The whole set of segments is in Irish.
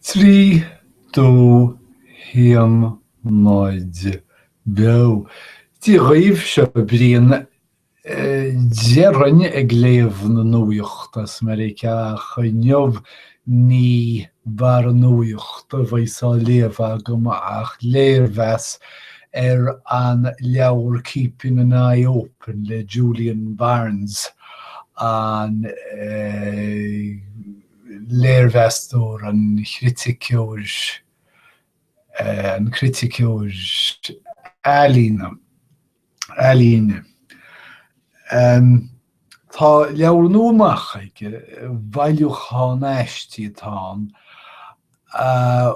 Trí do thiomáint beo. Dia dhaoibh, seo Brian. Déarfainn ag léamh na nuacht as Meiriceá ach inniu ní barr nuachta a bheas á léamh agam ach léirmheas ar an leabhar Keeping an Eye Open le Julian Barnes. an léirmheastóir, an chriticeoir, an criticeoir ealaíona, ealaíne. Tá leabhar nua amach aige, bailiúchán aistí atá ann, a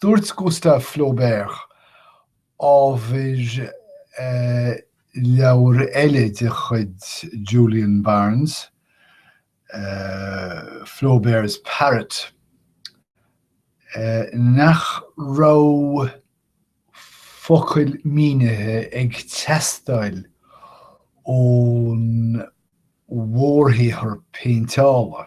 Dúirt Gustave Flaubert, ábhar leabhar eile de chuid Julian Barnes, Flaubert's Parrot, nach raibh focail mínithe ag teastáil ón mhórshaothar péinteála.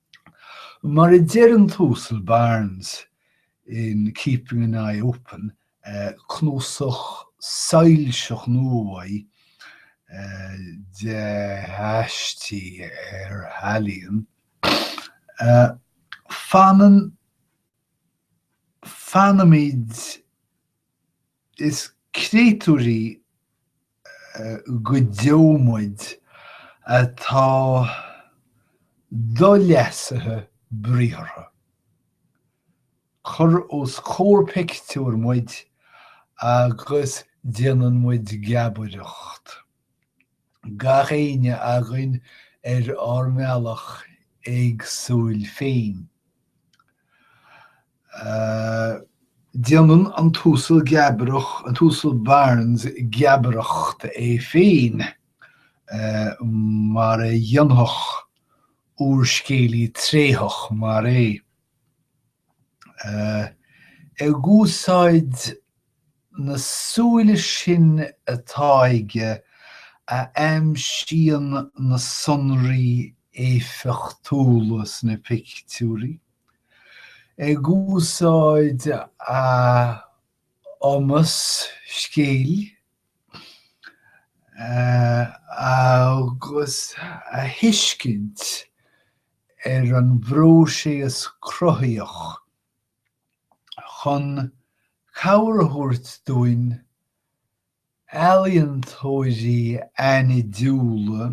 Mar a deir an tUasal Barnes in Keeping an Eye Open, cnuasach soilseach nua uaidh de aistí ar ealaíon, fanann, fanaimid, Is créatúirí go deo muid atá do-leasaithe briathartha. Cuir os comhair pictiúir muid agus déanann muid geabaireacht. Gach éinne againn ar ár mbealach éagsúil féin. Déanann an tUasal Geabrach, an tUasal Barnes geabaireacht é féin mar a dhéanfadh úrscéalaí tréitheach mar é. Ag úsáid na súile sin atá aige a aimsíonn na sonraí éifeachtúla sna pictiúirí. Ag úsáid a chumas scéil agus a thuiscint ar an bpróiséas cruthaíoch chun cabhair a thabhairt dúinn Ealaíontóirí aithnidiúla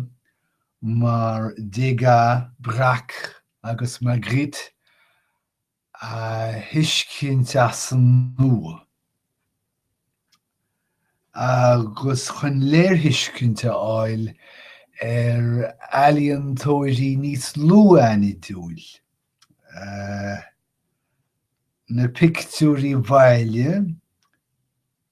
mar Degas, Braque agus Magritte a thuiscint as an nua, agus chun léirthuiscint a fháil ar ealaíontóirí níos lú aithnidiúil, na pictiúirí bhaile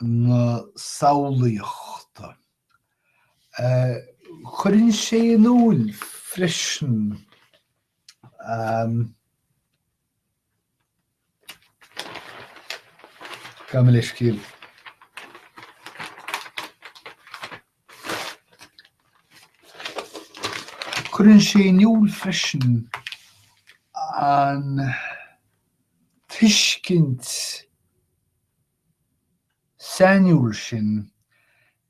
na samhlaíochta. Cuireann sé in iúil freisin go mbíonn an tuiscint. sainiúil sin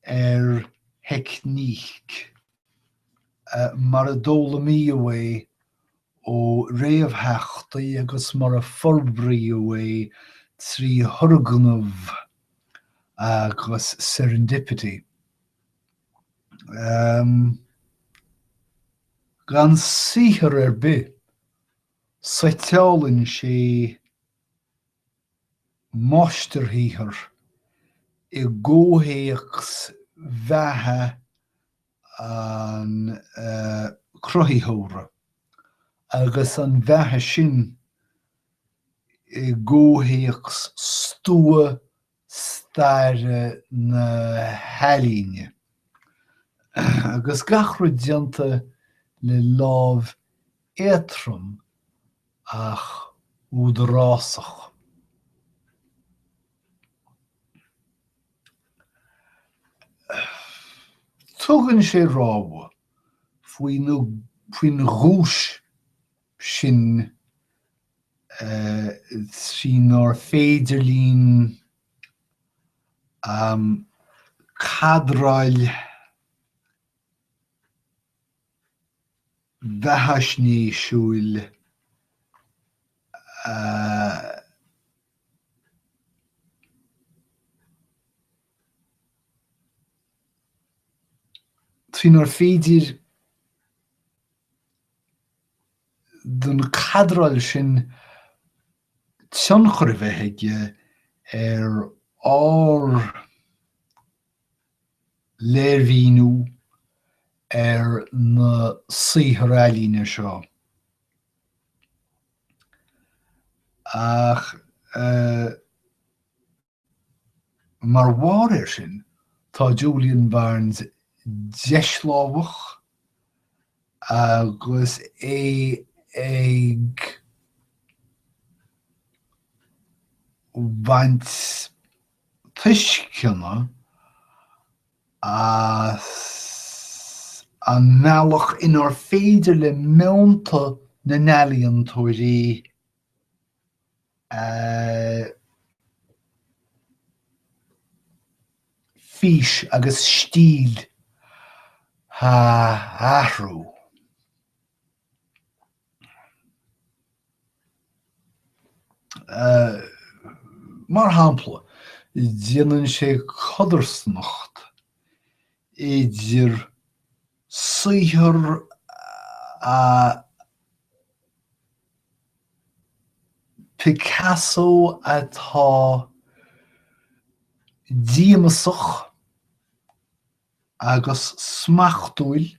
ar theicníc mar a d'fhoghlaimíodh é ó réamhtheachtaí agus mar a forbraíodh é trí thurgnamh agus serendipity. Gan saothar ar bith, suiteálann sé máistirshaothar i gcomhthéacs bheatha an chruthaitheora agus an bheatha sin i gcomhthéacs stua staire na healaíne. Agus gach rud déanta le lámh éadtrom ach údarásach. Tugann sé rabhadh faoin ghuais sin trínar féidir linn cadráil. bheathaisnéisiúil a trínar féidir don cadráil sin tionchar a bheith aige ar ár léirmhíniú ar na saothair ealaíne seo, ach mar bharr air sin, tá Julian Barnes deislámhach agus é ag baint. tuisceana as an mbealach inár féidir le meonta na n-ealaíontóirí a a bhfís agus stíl a athrú. Mar shampla, déanann sé codarsnacht idir saothar Picasso atá díomasach agus smachtúil,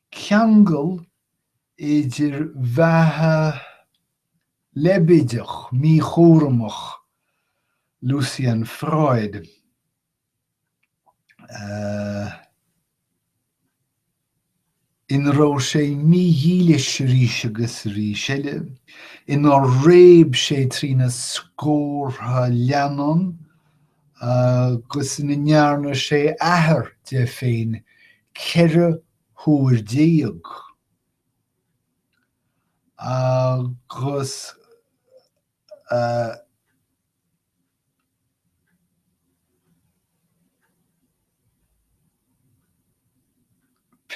ceangal idir bheatha leibéideach míchúramach Lucian Freud, ina raibh sé mídhílis arís agus arís eile, inar réab sé trína scórtha leannán, agus ina ndearna sé athair de féin ceithre huair déag, agus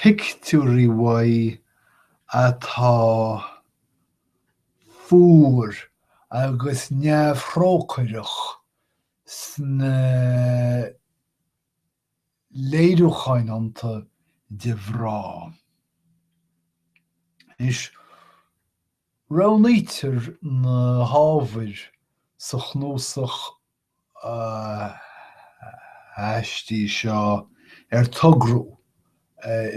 pictiúirí uaidh atá fuar agus neamhthrócaireach Sna léiriúcháin iontu de mhná. Is roghnaítear na hábhair sa chnuasach aistí seo ar togradh.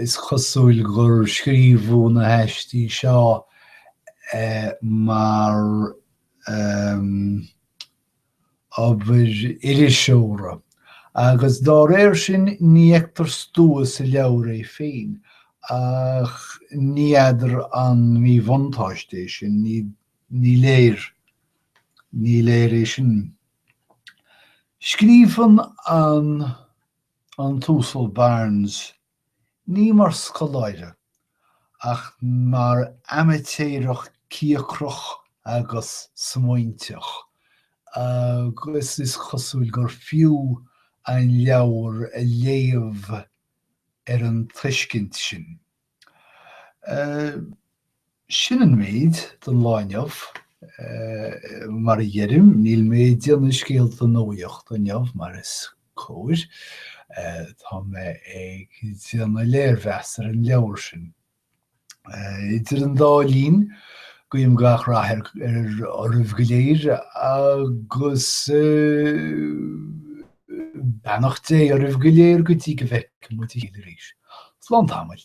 Is cosúil gur scríobhadh na haistí seo mar obair iriseora, agus dá réir sin ní fheictear Stua sa leabhar é féin, ach ní fheadar an míbhuntáiste é sin, ní léir, ní léir é sin. Scríobhann an an tUasal Barnes. ní mar scoláire ach mar amaitéarach cíocrach agus smaointeach agus is cosúil gur fiú an leabhar a léamh ar an tuiscint sin. Sin an méid don lá inniu. Mar a dheirim, níl mé ag déanamh scéalta nuaíochta inniu mar is cóir. Tá mé ag déanamh léirmheas ar an leabhar sin. Idir an dá linn, guím gach rath oraibh go léir agus. Beannacht Dé oraibh go léir go dtí go bhfeicfimid a chéile arís. Slán tamaill.